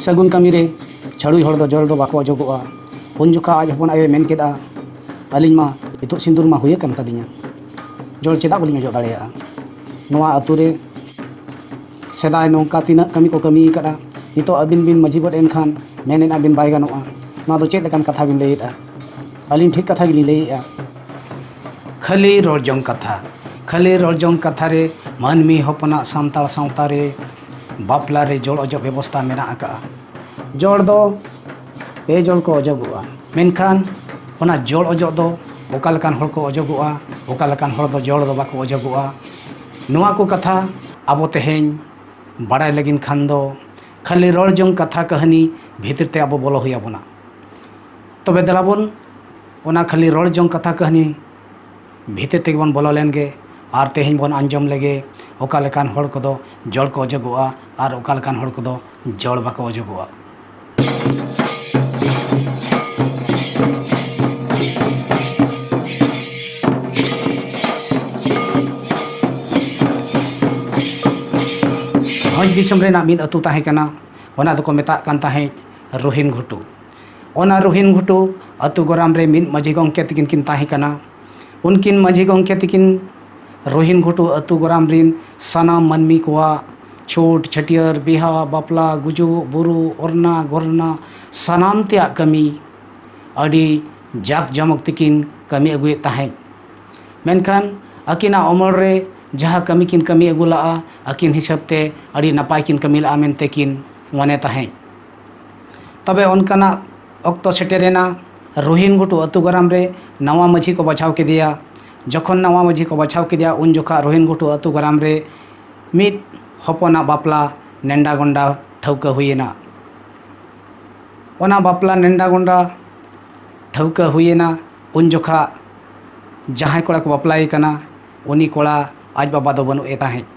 ᱥᱟᱹᱜᱩᱱ ᱠᱟᱹᱢᱤ ᱨᱮ ᱪᱷᱟᱹᱲᱩᱭ ᱦᱚᱲ ᱫᱚ ᱡᱚᱞ ᱫᱚ ᱵᱟᱠᱚ ᱚᱡᱚᱜᱚᱜᱼᱟ ᱩᱱ ᱡᱚᱠᱷᱟ ᱟᱡ ᱦᱚᱯᱚᱱ ᱟᱭᱳᱭ ᱢᱮᱱ ᱠᱮᱫᱟ ᱟᱹᱞᱤᱧ ᱢᱟ ᱱᱤᱛᱚᱜ ᱥᱤᱸᱫᱩᱨ ᱢᱟ ᱦᱩᱭ ᱟᱠᱟᱱ ᱛᱟᱹᱞᱤᱧᱟ ᱡᱚᱞ ᱪᱮᱫᱟᱜ ᱵᱟᱹᱞᱤᱧ ᱚᱡᱚᱜ ᱫᱟᱲᱮᱭᱟᱜᱼᱟ ᱱᱚᱣᱟ ᱟᱛᱳ ᱨᱮ ᱥᱮᱫᱟᱭ ᱱᱚᱝᱠᱟ ᱛᱤᱱᱟᱹᱜ ᱠᱟᱹᱢᱤ ᱠᱚ ᱠᱟᱹᱢᱤ ᱟᱠᱟᱫᱼᱟ ᱱᱤᱛᱚᱜ ᱟᱹᱵᱤᱱ ᱵᱤᱱ ᱢᱟᱹᱡᱷᱤ ᱜᱚᱫ ᱮᱱᱠᱷᱟᱱ ᱢᱮᱱᱮᱫᱼᱟ ᱵᱤᱱ ᱵᱟᱭ ᱜᱟᱱᱚᱜᱼᱟ ᱱᱚᱣᱟ ᱫᱚ ᱪᱮᱫ ᱞᱮᱠᱟᱱ ᱠᱟᱛᱷᱟ ᱵᱤᱱ ᱞᱟᱹᱭᱮᱫᱼᱟ ᱟᱹᱞᱤᱧ ᱴᱷᱤᱠ ᱠᱟᱛᱷᱟ ᱜᱮᱞᱤᱧ ᱞᱟᱹᱭᱮᱜᱼᱟ ᱠᱷᱟᱹᱞᱤ ᱨᱚᱲ ᱡᱚᱝ ᱠᱟᱛᱷᱟ ᱠᱷᱟᱹᱞᱤ ᱨᱚᱲ ᱡᱚᱝ ᱠᱟᱛᱷᱟ ᱨᱮ ᱢᱟᱹᱱᱢᱤ ᱦᱚᱯᱚᱱᱟᱜ ᱥᱟᱱᱛᱟᱲ ᱥᱟᱶᱛᱟ ᱨᱮ ᱵᱟᱯᱞᱟ ᱨᱮ ᱡᱚᱲ ᱚᱡᱚᱜ ᱵᱮᱵᱚᱥᱛᱟ ᱢᱮᱱᱟᱜ ᱟᱠᱟᱜᱼᱟ ᱡᱚᱲ ᱫᱚ ᱯᱮ ᱡᱚᱲ ᱠᱚ ᱚᱡᱚᱜᱚᱜᱼᱟ ᱢᱮᱱᱠᱷᱟᱱ ᱚᱱᱟ ᱡᱚᱲ ᱚᱡᱚᱜ ᱫᱚ ᱚᱠᱟ ᱞᱮᱠᱟᱱ ᱦᱚᱲ ᱠᱚ ᱚᱡᱚᱜᱚᱜᱼᱟ ᱚᱠᱟ ᱞᱮᱠᱟᱱ ᱦᱚᱲ ᱫᱚ ᱡᱚᱲ ᱫᱚ ᱵᱟᱠᱚ ᱚᱡᱚᱜᱚᱜᱼᱟ ᱱᱚᱣᱟ ᱠᱚ ᱠᱟᱛᱷᱟ ᱟᱵᱚ ᱛᱮᱦᱮᱧ ᱵᱟᱲᱟᱭ ᱞᱟᱹᱜᱤᱫ ᱠᱷᱟᱱ ᱫᱚ ᱠᱷᱟᱹᱞᱤ ᱨᱚᱲ ᱡᱚᱝ ᱠᱟᱛᱷᱟ ᱠᱟᱹᱦᱱᱤ ᱵᱷᱤᱛᱤᱨ ᱛᱮ ᱟᱵᱚ ᱵᱚᱞᱚ ᱦᱩᱭ ᱟᱵᱚᱱᱟ ᱛᱚᱵᱮ ᱫᱮᱞᱟ ᱵᱚᱱ ᱚᱱᱟ ᱠᱷᱟᱹᱞᱤ ᱨᱚᱲ ᱡᱚᱝ ᱠᱟᱛᱷᱟ ᱠᱟᱹᱦᱱᱤ ᱵᱷᱤᱛᱤᱨ ᱛᱮᱜᱮ ᱵᱚᱱ ᱵᱚᱞᱚ ᱞᱮᱱᱜᱮ ᱟᱨ ᱛᱮᱦᱮᱧ ᱵᱚᱱ ᱟᱸᱡᱚᱢ ᱞᱮᱜᱮ ᱚᱠᱟ ᱞᱮᱠᱟᱱ ᱦᱚᱲ ᱠᱚᱫᱚ ᱡᱚᱲ ᱠᱚ ᱚᱡᱚᱜᱚᱜᱼᱟ ᱟᱨ ᱚᱠᱟ ᱞᱮᱠᱟᱱ ᱦᱚᱲ ᱠᱚᱫᱚ ᱡᱚᱲ ᱵᱟᱠᱚ ᱚᱡᱚᱜᱚᱜᱼᱟ ᱵᱷᱚᱸᱡᱽ ᱫᱤᱥᱚᱢ ᱨᱮᱱᱟᱜ ᱢᱤᱫ ᱟᱹᱛᱩ ᱛᱟᱦᱮᱸ ᱠᱟᱱᱟ ᱚᱱᱟ ᱫᱚᱠᱚ ᱢᱮᱛᱟᱜ ᱠᱟᱱ ᱛᱟᱦᱮᱸᱫ ᱨᱚᱦᱤᱱ ᱜᱷᱩᱴᱩ ᱚᱱᱟ ᱨᱚᱦᱤᱱ ᱜᱷᱩᱴᱩ ᱟᱹᱛᱩ ᱜᱚᱨᱟᱢ ᱨᱮ ᱢᱤᱫ ᱢᱟᱹᱡᱷᱤ ᱜᱚᱢᱠᱮ ᱛᱟᱹᱠᱤᱱ ᱠᱤᱱ ᱛᱟᱦᱮᱸ ᱠᱟᱱᱟ ᱩᱱᱠᱤᱱ ᱢᱟᱹᱡᱷᱤ ᱜᱚᱢᱠᱮ ᱛᱟᱹᱠᱤᱱ ᱨᱚᱦᱤᱱ ᱜᱷᱩᱴᱩ ᱟᱹᱛᱩ ᱜᱚᱨᱟᱢ ᱨᱤᱱ ᱥᱟᱱᱟᱢ ᱢᱟᱹᱱᱢᱤ ᱠᱚᱣᱟᱜ ᱪᱷᱩᱴ ᱪᱷᱟᱹᱴᱭᱟᱹᱨ ᱵᱤᱦᱟᱹ ᱵᱟᱯᱞᱟ ᱜᱩᱡᱩᱜ ᱵᱩᱨᱩᱜ ᱚᱨᱱᱟ ᱜᱚᱨᱱᱟ ᱥᱟᱱᱟᱢ ᱛᱮᱭᱟᱜ ᱠᱟᱹᱢᱤ ᱟᱹᱰᱤ ᱡᱟᱠ ᱡᱚᱢᱚᱠ ᱛᱮᱠᱤᱱ ᱠᱟᱹᱢᱤ ᱟᱹᱜᱩᱭᱮᱫ ᱛᱟᱦᱮᱸᱫ ᱢᱮᱱᱠᱷᱟᱱ ᱟᱹᱠᱤᱱᱟᱜ ᱚᱢᱚᱞ ᱨᱮ ᱡᱟᱦᱟᱸ ᱠᱟᱹᱢᱤ ᱠᱤᱱ ᱠᱟᱹᱢᱤ ᱟᱹᱜᱩ ᱞᱟᱜᱼᱟ ᱟᱹᱠᱤᱱ ᱦᱤᱥᱟᱹᱵ ᱛᱮ ᱟᱹᱰᱤ ᱱᱟᱯᱟᱭ ᱠᱤᱱ ᱠᱟᱹᱢᱤ ᱞᱟᱜᱼᱟ ᱢᱮᱱᱛᱮ ᱠᱤᱱ ᱢᱚᱱᱮ ᱛᱟᱦᱮᱸᱫ ᱛᱚᱵᱮ ᱚᱱᱠᱟᱱᱟᱜ ᱚᱠᱛᱚ ᱥᱮᱴᱮᱨᱮᱱᱟ ᱨᱚᱦᱤᱱ ᱜᱷᱩᱴᱩ ᱟᱹᱛᱩ ᱜᱚᱨᱟᱢ ᱨᱮ ᱱᱟᱣᱟ ᱢᱟᱹᱡᱷᱤ ᱠᱚ ᱵᱟᱪᱷᱟᱣ ᱠᱮᱫᱮᱭᱟ ᱡᱚᱠᱷᱚᱱ ᱱᱟᱣᱟ ᱢᱟᱹᱡᱷᱤ ᱠᱚ ᱵᱟᱪᱷᱟᱣ ᱠᱮᱫᱮᱭᱟ ᱩᱱ ᱡᱚᱠᱷᱟᱜ ᱨᱚᱦᱤᱱ ᱜᱷᱩᱴᱩ ᱟᱹᱛᱩ ᱜᱚᱨᱟᱢ ᱨᱮ ᱢᱤᱫ ᱦᱚᱯᱚᱱᱟᱜ ᱵᱟᱯᱞᱟ ᱱᱮᱰᱟ ᱜᱷᱚᱱᱰᱟ ᱴᱷᱟᱹᱣᱠᱟᱹ ᱦᱩᱭᱮᱱᱟ ᱚᱱᱟ ᱵᱟᱯᱞᱟ ᱱᱮᱰᱟ ᱜᱷᱚᱱᱰᱟ ᱴᱷᱟᱹᱣᱠᱟᱹ ᱦᱩᱭᱮᱱᱟ ᱩᱱ ᱡᱚᱠᱷᱟᱜ ᱡᱟᱦᱟᱸᱭ ᱠᱚᱲᱟ ᱠᱚ ᱵᱟᱯᱞᱟᱭᱮ ᱠᱟᱱᱟ ᱩᱱᱤ ᱠᱚᱲᱟ ᱟᱡ ᱵᱟᱵᱟ ᱫᱚ ᱵᱟᱹᱱᱩᱜ ᱮ ᱛᱟᱦᱮᱸᱫ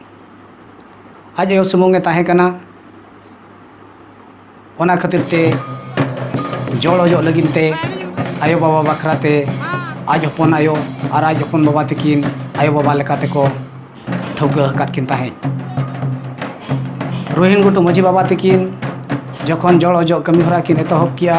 ᱟᱡ ᱟᱭᱳ ᱥᱩᱢᱩᱝ ᱮ ᱛᱟᱦᱮᱸ ᱠᱟᱱᱟ ᱚᱱᱟ ᱠᱷᱟᱹᱛᱤᱨ ᱛᱮ ᱡᱚᱲ ᱚᱡᱚᱜ ᱞᱟᱹᱜᱤᱫ ᱛᱮ ᱟᱭᱳ ᱵᱟᱵᱟ ᱵᱟᱠᱷᱨᱟ ᱛᱮ ᱟᱡ ᱦᱚᱯᱚᱱ ᱟᱭᱳ ᱟᱨ ᱟᱡ ᱦᱚᱯᱚᱱ ᱵᱟᱵᱟ ᱛᱟᱹᱠᱤᱱ ᱟᱭᱳ ᱵᱟᱵᱟ ᱞᱮᱠᱟ ᱛᱮᱠᱚ ᱴᱷᱟᱹᱣᱠᱟᱹ ᱟᱠᱟᱫ ᱠᱤᱱ ᱛᱟᱦᱮᱸᱫ ᱨᱳᱦᱤᱱ ᱜᱷᱩᱴᱩ ᱢᱟᱹᱡᱷᱤ ᱵᱟᱵᱟ ᱛᱟᱹᱠᱤᱱ ᱡᱚᱠᱷᱚᱱ ᱡᱚᱲ ᱚᱡᱚᱜ ᱠᱟᱹᱢᱤ ᱦᱚᱨᱟ ᱠᱤᱱ ᱮᱛᱚᱦᱚᱵ ᱠᱮᱜᱼᱟ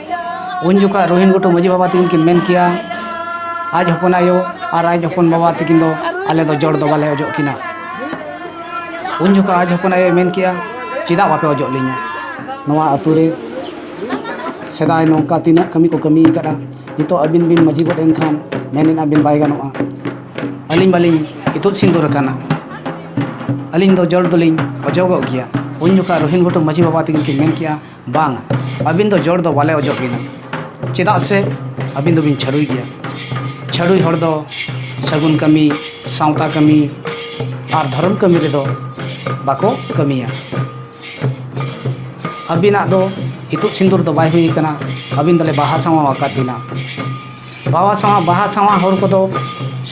ᱩᱱ ᱡᱚᱠᱷᱟᱡ ᱨᱳᱦᱤᱱ ᱜᱷᱩᱴᱩ ᱢᱟᱹᱡᱷᱤ ᱵᱟᱵᱟ ᱛᱟᱹᱠᱤᱱ ᱠᱤᱱ ᱢᱮᱱ ᱠᱮᱜᱼᱟ ᱟᱡ ᱦᱚᱯᱚᱱ ᱟᱭᱳ ᱟᱨ ᱟᱡ ᱦᱚᱯᱚᱱ ᱵᱟᱵᱟ ᱛᱟᱹᱠᱤᱱ ᱫᱚ ᱟᱞᱮ ᱫᱚ ᱡᱚᱲ ᱫᱚ ᱵᱟᱞᱮ ᱚᱡᱚᱜ ᱠᱤᱱᱟ ᱩᱱ ᱡᱚᱠᱷᱟᱡ ᱟᱡ ᱦᱚᱯᱚᱱ ᱟᱭᱳᱭ ᱢᱮᱱ ᱠᱮᱜᱼᱟ ᱪᱮᱫᱟᱜ ᱵᱟᱯᱮ ᱚᱡᱚᱜ ᱞᱤᱧᱟ ᱱᱚᱣᱟ ᱟᱛᱳ ᱨᱮ ᱥᱮᱫᱟᱭ ᱱᱚᱝᱠᱟ ᱛᱤᱱᱟᱹᱜ ᱠᱟᱹᱢᱤ ᱠᱚ ᱠᱟᱹᱢᱤ ᱟᱠᱟᱫᱼᱟ ᱱᱤᱛᱚᱜ ᱟᱹᱵᱤᱱ ᱵᱤᱱ ᱢᱟᱹᱡᱷᱤ ᱜᱚᱫ ᱮᱱᱠᱷᱟᱱ ᱢᱮᱱᱮᱫᱼᱟ ᱵᱤᱱ ᱵᱟᱭ ᱜᱟᱱᱚᱜᱼᱟ ᱟᱹᱞᱤᱧ ᱢᱟᱞᱤᱧ ᱤᱛᱩᱫ ᱥᱤᱸᱫᱩᱨ ᱟᱠᱟᱱᱟ ᱟᱹᱞᱤᱧ ᱫᱚ ᱡᱚᱲ ᱫᱚᱞᱤᱧ ᱚᱡᱚᱜᱚᱜ ᱜᱮᱭᱟ ᱩᱱ ᱡᱚᱠᱷᱟᱡ ᱨᱳᱦᱤᱱ ᱜᱷᱩᱴᱩ ᱢᱟᱹᱡᱷᱤ ᱵᱟᱵᱟ ᱛᱟᱹᱠᱤᱱ ᱠᱤᱱ ᱢᱮᱱ ᱠᱮᱜᱼᱟ ᱵᱟᱝ ᱟᱹᱵᱤᱱ ᱫᱚ ᱡᱚᱲ ᱫᱚ ᱵᱟᱞᱮ ᱚᱡᱚᱜ ᱵᱤᱱᱟ ᱪᱮᱫᱟᱜ ᱥᱮ ᱟᱹᱵᱤᱱ ᱫᱚᱵᱤᱱ ᱪᱷᱟᱹᱰᱩᱭ ᱜᱮᱭᱟ ᱪᱷᱟᱹᱰᱩᱭ ᱦᱚᱲ ᱫᱚ ᱥᱟᱹᱜᱩᱱ ᱠᱟᱹᱢᱤ ᱥᱟᱶᱛᱟ ᱠᱟᱹᱢᱤ ᱟᱨ ᱫᱷᱚᱨᱚᱢ ᱠᱟᱹᱢᱤ ᱨᱮᱫᱚ ᱵᱟᱠᱚ ᱠᱟᱹᱢᱤᱭᱟ ᱟᱹᱵᱤᱱᱟᱜ ᱫᱚ ᱤᱛᱩᱫ ᱥᱤᱸᱫᱩᱨ ᱫᱚ ᱵᱟᱭ ᱦᱩᱭ ᱠᱟᱱᱟ ᱟᱹᱵᱤᱱ ᱫᱚᱞᱮ ᱵᱟᱦᱟ ᱥᱟᱶᱟ ᱟᱠᱟᱫ ᱵᱤᱱᱟ ᱵᱟᱦᱟ ᱥᱟᱶᱟ ᱵᱟᱦᱟ ᱥᱟᱶᱟ ᱦᱚᱲ ᱠᱚᱫᱚ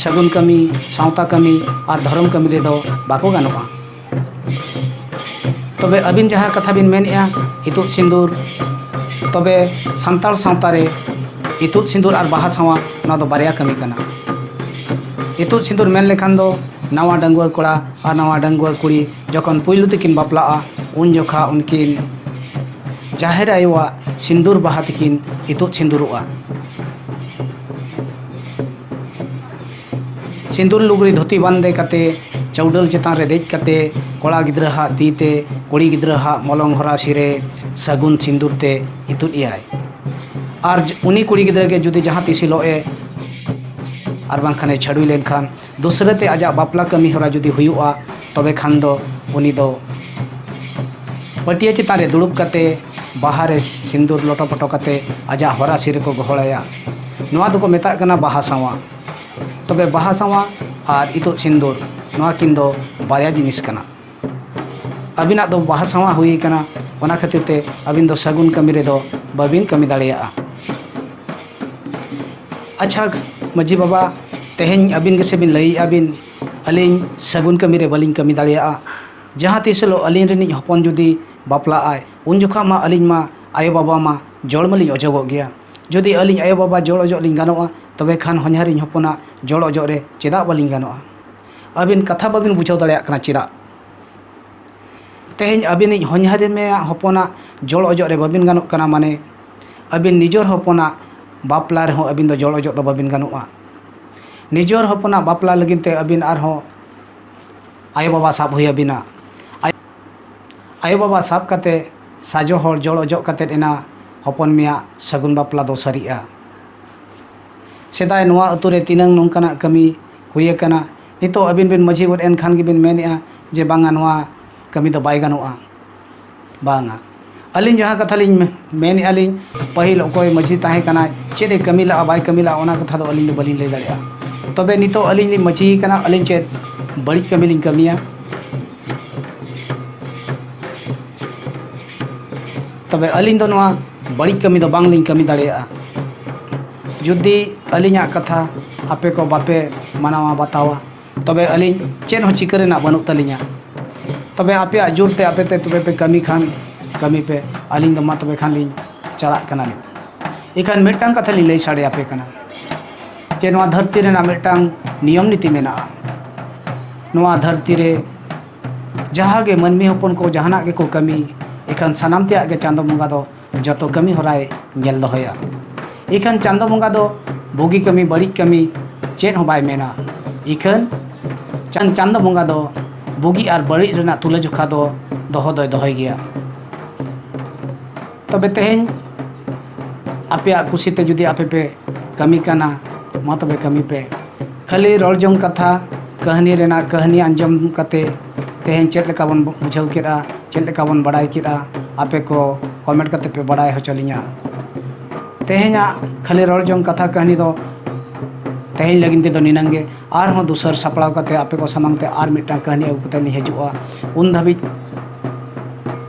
ᱥᱟᱹᱜᱩᱱ ᱠᱟᱹᱢᱤ ᱥᱟᱶᱛᱟ ᱠᱟᱹᱢᱤ ᱟᱨ ᱫᱷᱚᱨᱚᱢ ᱠᱟᱹᱢᱤ ᱨᱮᱫᱚ ᱵᱟᱠᱚ ᱜᱟᱱᱚᱜᱼᱟ ᱛᱚᱵᱮ ᱟᱹᱵᱤᱱ ᱡᱟᱦᱟᱸ ᱠᱟᱛᱷᱟ ᱵᱤᱱ ᱢᱮᱱᱮᱜᱼᱟ ᱤᱛᱩᱫ ᱥᱤᱸᱫᱩᱨ ᱛᱚᱵᱮ ᱥᱟᱱᱛᱟᱲ ᱥᱟᱶᱛᱟ ᱨᱮ ᱤᱛᱩᱫ ᱥᱤᱸᱫᱩᱨ ᱟᱨ ᱵᱟᱦᱟ ᱥᱟᱶᱟ ᱱᱚᱣᱟ ᱫᱚ ᱵᱟᱨᱭᱟ ᱠᱟᱹᱢᱤ ᱠᱟᱱᱟ ᱤᱛᱩᱫ ᱥᱤᱸᱫᱩᱨ ᱢᱮᱱ ᱞᱮᱠᱷᱟᱱ ᱫᱚ ᱱᱟᱣᱟ ᱰᱟᱺᱜᱩᱣᱟᱹ ᱠᱚᱲᱟ ᱟᱨ ᱱᱟᱣᱟ ᱰᱟᱺᱜᱩᱣᱟᱹ ᱠᱩᱲᱤ ᱡᱚᱠᱷᱚᱱ ᱯᱩᱭᱞᱩ ᱛᱮᱠᱤᱱ ᱵᱟᱯᱞᱟᱜᱼᱟ ᱩᱱ ᱡᱚᱠᱷᱟᱜ ᱩᱱᱠᱤᱱ ᱡᱟᱦᱮᱨ ᱟᱭᱳᱣᱟᱜ ᱥᱤᱸᱫᱩᱨ ᱵᱟᱦᱟ ᱛᱮᱠᱤᱱ ᱤᱛᱩᱫ ᱥᱤᱸᱫᱩᱨᱚᱜᱼᱟ ᱥᱤᱸᱫᱩᱨ ᱞᱩᱜᱽᱲᱤ ᱫᱷᱩᱛᱤ ᱵᱟᱸᱫᱮ ᱠᱟᱛᱮᱫ ᱪᱟᱹᱣᱰᱟᱹᱞ ᱪᱮᱛᱟᱱ ᱨᱮ ᱫᱮᱡ ᱠᱟᱛᱮᱫ ᱠᱚᱲᱟ ᱜᱤᱫᱽᱨᱟᱹ ᱦᱟᱜ ᱛᱤ ᱛᱮ ᱠᱩᱲᱤ ᱜᱤᱫᱽᱨᱟᱹ ᱦᱟᱜ ᱢᱚᱞᱚᱝ ᱦᱚᱨᱟᱥᱤ ᱨᱮ ᱥᱟᱹᱜᱩᱱ ᱥᱤᱸᱫᱩᱨ ᱛᱮ ᱤᱛᱩᱫ ᱮᱭᱟᱭ ᱟᱨ ᱩᱱᱤ ᱠᱩᱲᱤ ᱜᱤᱫᱽᱨᱟᱹ ᱜᱮ ᱡᱩᱫᱤ ᱡᱟᱦᱟᱸ ᱛᱤᱥ ᱦᱤᱞᱳᱜ ᱮ ᱟᱨ ᱵᱟᱝᱠᱷᱟᱱᱮ ᱪᱷᱟᱹᱰᱣᱤ ᱞᱮᱱᱠᱷᱟᱱ ᱫᱚᱥᱨᱟ ᱛᱮ ᱟᱡᱟᱜ ᱵᱟᱯᱞᱟ ᱠᱟᱹᱢᱤ ᱦᱚᱨᱟ ᱡᱩᱫᱤ ᱦᱩᱭᱩᱜᱼᱟ ᱛᱚᱵᱮ ᱠᱷᱟᱱ ᱫᱚ ᱩᱱᱤ ᱫᱚ ᱯᱟᱹᱴᱭᱟᱹ ᱪᱮᱛᱟᱱ ᱨᱮ ᱫᱩᱲᱩᱵ ᱠᱟᱛᱮᱫ ᱵᱟᱦᱟ ᱨᱮ ᱥᱤᱸᱫᱩᱨ ᱞᱚᱴᱚ ᱯᱚᱴᱚ ᱠᱟᱛᱮᱫ ᱟᱡᱟᱜ ᱦᱚᱨᱟᱥᱤ ᱨᱮᱠᱚ ᱜᱚᱦᱚᱲ ᱟᱭᱟ ᱱᱚᱣᱟ ᱫᱚᱠᱚ ᱢᱮᱛᱟᱜ ᱠᱟᱱᱟ ᱵᱟᱦᱟ ᱥᱟᱶᱟ ᱛᱚᱵᱮ ᱵᱟᱦᱟ ᱥᱟᱶᱟ ᱟᱨ ᱤᱛᱩᱫ ᱥᱤᱸᱫᱩᱨ ᱱᱚᱣᱟ ᱠᱤᱱ ᱫᱚ ᱵᱟᱨᱭᱟ ᱡᱤᱱᱤᱥ ᱠᱟᱱᱟ ᱟᱹᱵᱤᱱᱟᱜ ᱫᱚ ᱵᱟᱦᱟ ᱥᱟᱶᱟ ᱦᱩᱭ ᱠᱟᱱᱟ ᱚᱱᱟ ᱠᱷᱟᱹᱛᱤᱨ ᱛᱮ ᱟᱹᱵᱤᱱ ᱫᱚ ᱥᱟᱹᱜᱩᱱ ᱠᱟᱹᱢᱤ ᱨᱮᱫᱚ ᱵᱟᱹᱵᱤᱱ ᱠᱟᱹᱢᱤ ᱫᱟᱲᱮᱭᱟᱜᱼᱟ ᱟᱪᱪᱷᱟ ᱢᱟᱹᱡᱷᱤ ᱵᱟᱵᱟ ᱛᱮᱦᱮᱧ ᱟᱹᱵᱤᱱ ᱜᱮᱥᱮ ᱵᱤᱱ ᱞᱟᱹᱭᱮᱜᱼᱟ ᱵᱤᱱ ᱟᱹᱞᱤᱧ ᱥᱟᱹᱜᱩᱱ ᱠᱟᱹᱢᱤ ᱨᱮ ᱵᱟᱹᱞᱤᱧ ᱠᱟᱹᱢᱤ ᱫᱟᱲᱮᱭᱟᱜᱼᱟ ᱡᱟᱦᱟᱸ ᱛᱤᱥ ᱦᱤᱞᱳᱜ ᱟᱹᱞᱤᱧ ᱨᱤᱱᱤᱡ ᱦᱚᱯᱚᱱ ᱡᱩᱫᱤ ᱵᱟᱯᱞᱟᱜᱼᱟᱭ ᱩᱱ ᱡᱚᱠᱷᱟᱜ ᱢᱟ ᱟᱹᱞᱤᱧ ᱢᱟ ᱟᱭᱳ ᱵᱟᱵᱟ ᱢᱟ ᱡᱚᱲ ᱢᱟᱞᱤᱧ ᱚᱪᱚᱜᱚᱜ ᱜᱮᱭᱟ ᱡᱩᱫᱤ ᱟᱹᱞᱤᱧ ᱟᱭᱳ ᱵᱟᱵᱟ ᱡᱚᱲ ᱚᱡᱚᱜ ᱞᱤᱧ ᱜᱟᱱᱚᱜᱼᱟ ᱛᱚᱵᱮ ᱠᱷᱟᱱ ᱦᱚᱧᱦᱟᱨ ᱤᱧ ᱦᱚᱯᱚᱱᱟᱜ ᱡᱚᱲ ᱚᱡᱚᱜ ᱨᱮ ᱪᱮᱫᱟᱜ ᱵᱟᱹᱞᱤᱧ ᱜᱟᱱᱚᱜᱼᱟ ᱟᱹᱵᱤᱱ ᱠᱟᱛᱷᱟ ᱵᱟᱹᱵᱤᱱ ᱵᱩᱡᱷᱟᱹᱣ ᱫᱟᱲᱮᱭᱟᱜ ᱠᱟᱱᱟ ᱪᱮᱫᱟᱜ ᱛᱮᱦᱮᱧ ᱟᱹᱵᱤᱱᱤᱡ ᱦᱚᱧᱦᱟᱨᱤᱧ ᱢᱮᱭᱟ ᱦᱚᱯᱚᱱᱟᱜ ᱡᱚᱲ ᱚᱡᱚᱜ ᱨᱮ ᱵᱟᱹᱵᱤᱱ ᱜᱟᱱᱚᱜ ᱠᱟᱱᱟ ᱢᱟᱱᱮ ᱟᱹᱵᱤᱱ ᱱᱤᱡᱚᱨ ᱦᱚᱯᱚᱱᱟᱜ ᱵᱟᱯᱞᱟ ᱨᱮᱦᱚᱸ ᱟᱹᱵᱤᱱ ᱫᱚ ᱡᱚᱲ ᱚᱡᱚᱜ ᱫᱚ ᱵᱟᱹᱵᱤᱱ ᱜᱟᱱᱚᱜᱼᱟ ᱱᱤᱡᱚᱨ ᱦᱚᱯᱚᱱᱟᱜ ᱵᱟᱯᱞᱟ ᱞᱟᱹᱜᱤᱫ ᱛᱮ ᱟᱹᱵᱤᱱ ᱟᱨᱦᱚᱸ ᱟᱭᱳ ᱵᱟᱵᱟ ᱥᱟᱵ ᱦᱩᱭ ᱟᱹᱵᱤᱱᱟ ᱟᱭᱳ ᱵᱟᱵᱟ ᱥᱟᱵ ᱠᱟᱛᱮ ᱥᱟᱡᱚ ᱦᱚᱲ ᱡᱚᱲ ᱚᱡᱚᱜ ᱠᱟᱛᱮ ᱮᱱᱟ ᱦᱚᱯᱚᱱ ᱢᱮᱭᱟᱜ ᱥᱟᱹᱜᱩᱱ ᱵᱟᱯᱞᱟ ᱫᱚ ᱥᱟᱹᱨᱤᱜᱼᱟ᱾ ᱥᱮᱫᱟᱭ ᱱᱚᱣᱟ ᱟᱹᱛᱩ ᱨᱮ ᱛᱤᱱᱟᱹᱝ ᱱᱚᱝᱠᱟᱱᱟᱜ ᱠᱟᱹᱢᱤ ᱦᱩᱭ ᱟᱠᱟᱱᱟ, ᱱᱤᱛᱚᱜ ᱟᱹᱵᱤᱱ ᱵᱤᱱ ᱢᱟᱹᱡᱷᱤ ᱜᱚᱫ ᱮᱱ ᱠᱷᱟᱱ ᱜᱮᱵᱤᱱ ᱢᱮᱱᱮᱜᱼᱟ ᱡᱮ ᱵᱟᱝᱼᱟ ᱱᱚᱣᱟ ᱠᱟᱹᱢᱤ ᱫᱚ ᱵᱟᱭ ᱜᱟᱱᱚᱜᱼᱟ᱾ ᱵᱟᱝᱼᱟ᱾ ᱟᱹᱞᱤᱧ ᱡᱟᱦᱟᱸ ᱠᱟᱛᱷᱟ ᱞᱤᱧ ᱢᱮᱱᱮᱫᱼᱟ ᱞᱤᱧ ᱯᱟᱹᱦᱤᱞ ᱚᱠᱚᱭ ᱢᱟᱹᱡᱷᱤ ᱛᱟᱦᱮᱸ ᱠᱟᱱᱟᱭ ᱪᱮᱫ ᱮ ᱠᱟᱹᱢᱤ ᱞᱟᱜᱼᱟ ᱵᱟᱭ ᱠᱟᱹᱢᱤ ᱞᱟᱜᱼᱟ ᱚᱱᱟ ᱠᱟᱛᱷᱟ ᱫᱚ ᱟᱹᱞᱤᱧ ᱫᱚ ᱵᱟᱹᱞᱤᱧ ᱞᱟᱹᱭ ᱫᱟᱲᱮᱭᱟᱜᱼᱟ ᱛᱚᱵᱮ ᱱᱤᱛᱚᱜ ᱟᱹᱞᱤᱧ ᱞᱤᱧ ᱢᱟᱹᱡᱷᱤ ᱠᱟᱱᱟ ᱟᱹᱞᱤᱧ ᱪᱮᱫ ᱵᱟᱹᱲᱤᱡ ᱠᱟᱹᱢᱤ ᱞᱤᱧ ᱠᱟᱹᱢᱤᱭᱟ ᱛᱚᱵᱮ ᱟᱹᱞᱤᱧ ᱫᱚ ᱱᱚᱣᱟ ᱵᱟᱹᱲᱤᱡ ᱠᱟᱹᱢᱤ ᱫᱚ ᱵᱟᱝ ᱞᱤᱧ ᱠᱟᱹᱢᱤ ᱫᱟᱲᱮᱭᱟᱜᱼᱟ ᱡᱩᱫᱤ ᱟᱹᱞᱤᱧᱟᱜ ᱠᱟᱛᱷᱟ ᱟᱯᱮ ᱠᱚ ᱵᱟᱯᱮ ᱢᱟᱱᱟᱣᱟ ᱵᱟᱛᱟᱣᱟ ᱛᱚᱵᱮ ᱟᱹᱞᱤᱧ ᱪᱮᱫ ᱦᱚᱸ ᱪᱤᱠᱟᱹ ᱨᱮᱱᱟᱜ ᱵᱟᱹᱱᱩᱜ ᱛᱟᱹᱞᱤᱧᱟ ᱛᱚᱵᱮ ᱟᱯᱮᱭᱟᱜ ᱡᱳᱨ ᱛᱮ ᱟᱯᱮ ᱛᱮ ᱛᱚᱵᱮ ᱯᱮ ᱠᱟᱹᱢᱤ ᱠᱷᱟᱱ ᱠᱟᱹᱢᱤ ᱯᱮ ᱟᱹᱞᱤᱧ ᱫᱚ ᱢᱟ ᱛᱚᱵᱮ ᱠᱷᱟᱱ ᱞᱤᱧ ᱪᱟᱞᱟᱜ ᱠᱟᱱᱟᱞᱤᱧ ᱮᱱᱠᱷᱟᱱ ᱢᱤᱫᱴᱟᱝ ᱠᱟᱛᱷᱟ ᱞᱤᱧ ᱞᱟᱹᱭ ᱥᱟᱰᱮ ᱟᱯᱮ ᱠᱟᱱᱟ ᱡᱮ ᱱᱚᱣᱟ ᱫᱷᱟᱹᱨᱛᱤ ᱨᱮᱱᱟᱜ ᱢᱤᱫᱴᱟᱝ ᱱᱤᱭᱚᱢ ᱱᱤᱛᱤ ᱢᱮᱱᱟᱜᱼᱟ ᱱᱚᱣᱟ ᱫᱷᱟᱹᱨᱛᱤ ᱨᱮ ᱡᱟᱦᱟᱸ ᱜᱮ ᱢᱟᱹᱱᱢᱤ ᱦᱚᱯᱚᱱ ᱠᱚ ᱡᱟᱦᱟᱱᱟᱜ ᱜᱮᱠᱚ ᱠᱟᱹᱢᱤ ᱮᱱᱠᱷᱟᱱ ᱥᱟᱱᱟᱢ ᱛᱮᱭᱟᱜ ᱜᱮ ᱪᱟᱸᱫᱳ ᱵᱚᱸᱜᱟ ᱫᱚ ᱡᱚᱛᱚ ᱠᱟᱹᱢᱤ ᱦᱚᱨᱟᱭ ᱧᱮᱞ ᱫᱚᱦᱚᱭᱟ ᱤᱠᱷᱟᱹᱱ ᱪᱟᱸᱫᱚ ᱵᱚᱸᱜᱟ ᱫᱚ ᱵᱩᱜᱤ ᱠᱟᱹᱢᱤ ᱵᱟᱹᱲᱤᱡ ᱠᱟᱹᱢᱤ ᱪᱮᱫ ᱦᱚᱸ ᱵᱟᱭ ᱢᱮᱱᱟ ᱤᱠᱷᱟᱹᱱ ᱪᱟᱸᱫ ᱪᱟᱸᱫᱚ ᱵᱚᱸᱜᱟ ᱫᱚ ᱵᱩᱜᱤ ᱟᱨ ᱵᱟᱹᱲᱤᱡ ᱨᱮᱱᱟᱜ ᱛᱩᱞᱟᱹ ᱡᱚᱠᱷᱟ ᱫᱚ ᱫᱚᱦᱚ ᱫᱚᱭ ᱫᱚᱦᱚᱭ ᱜᱮᱭᱟ ᱛᱚᱵᱮ ᱛᱮᱦᱮᱧ ᱟᱯᱮᱭᱟᱜ ᱠᱩᱥᱤᱛᱮ ᱡᱩᱫᱤ ᱟᱯᱮ ᱯᱮ ᱠᱟᱹᱢᱤ ᱠᱟᱱᱟ ᱢᱟ ᱛᱚᱵᱮ ᱠᱟᱹᱢᱤ ᱯᱮ ᱠᱷᱟᱹᱞᱤ ᱨᱚᱲ ᱡᱚᱝ ᱠᱟᱛᱷᱟ ᱠᱟᱹᱦᱱᱤ ᱨᱮᱱᱟᱜ ᱠᱟᱹᱦᱱᱤ ᱟᱸᱡᱚᱢ ᱠᱟᱛᱮ ᱛᱮᱦᱮᱧ ᱪᱮᱫ ᱞᱮᱠᱟ ᱵᱚᱱ ᱵᱩᱡᱷᱟᱹᱣ ᱠᱮᱫᱼᱟ ᱪᱮᱫ ᱞᱮᱠᱟ ᱵᱚᱱ ᱵᱟᱲᱟᱭ ᱠᱮᱫᱼᱟ ᱟᱯᱮ ᱠᱚ ᱠᱚᱢᱮᱱᱴ ᱠᱟᱛᱮᱫ ᱯᱮ ᱵᱟᱲᱟᱭ ᱦᱚᱪᱚ ᱞᱤᱧᱟ ᱛᱮᱦᱮᱧᱟᱜ ᱠᱷᱟᱹᱞᱤ ᱨᱚᱲ ᱡᱚᱝ ᱠᱟᱛᱷᱟ ᱠᱟᱹᱦᱱᱤ ᱫᱚ ᱛᱮᱦᱮᱧ ᱞᱟᱹᱜᱤᱫ ᱛᱮᱫᱚ ᱱᱤᱱᱟᱹᱝ ᱜᱮ ᱟᱨᱦᱚᱸ ᱫᱩᱥᱟᱹᱨ ᱥᱟᱯᱲᱟᱣ ᱠᱟᱛᱮᱫ ᱟᱯᱮ ᱠᱚ ᱥᱟᱢᱟᱝ ᱛᱮ ᱟᱨ ᱢᱤᱫᱴᱟᱝ ᱠᱟᱹᱦᱱᱤ ᱟᱹᱜᱩ ᱠᱟᱛᱮᱫ ᱞᱤᱧ ᱦᱤᱡᱩᱜᱼᱟ ᱩᱱ ᱫᱷᱟᱹᱵᱤᱡ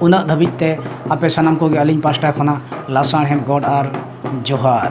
ᱩᱱᱟᱹᱜ ᱫᱷᱟᱹᱵᱤᱡ ᱛᱮ ᱟᱯᱮ ᱥᱟᱱᱟᱢ ᱠᱚᱜᱮ ᱟᱹᱞᱤᱧ ᱯᱟᱥᱴᱟ ᱠᱷᱚᱱᱟᱜ ᱞᱟᱥᱟᱬᱦᱮᱫ ᱜᱚᱰ ᱟᱨ ᱡᱚᱦᱟᱨ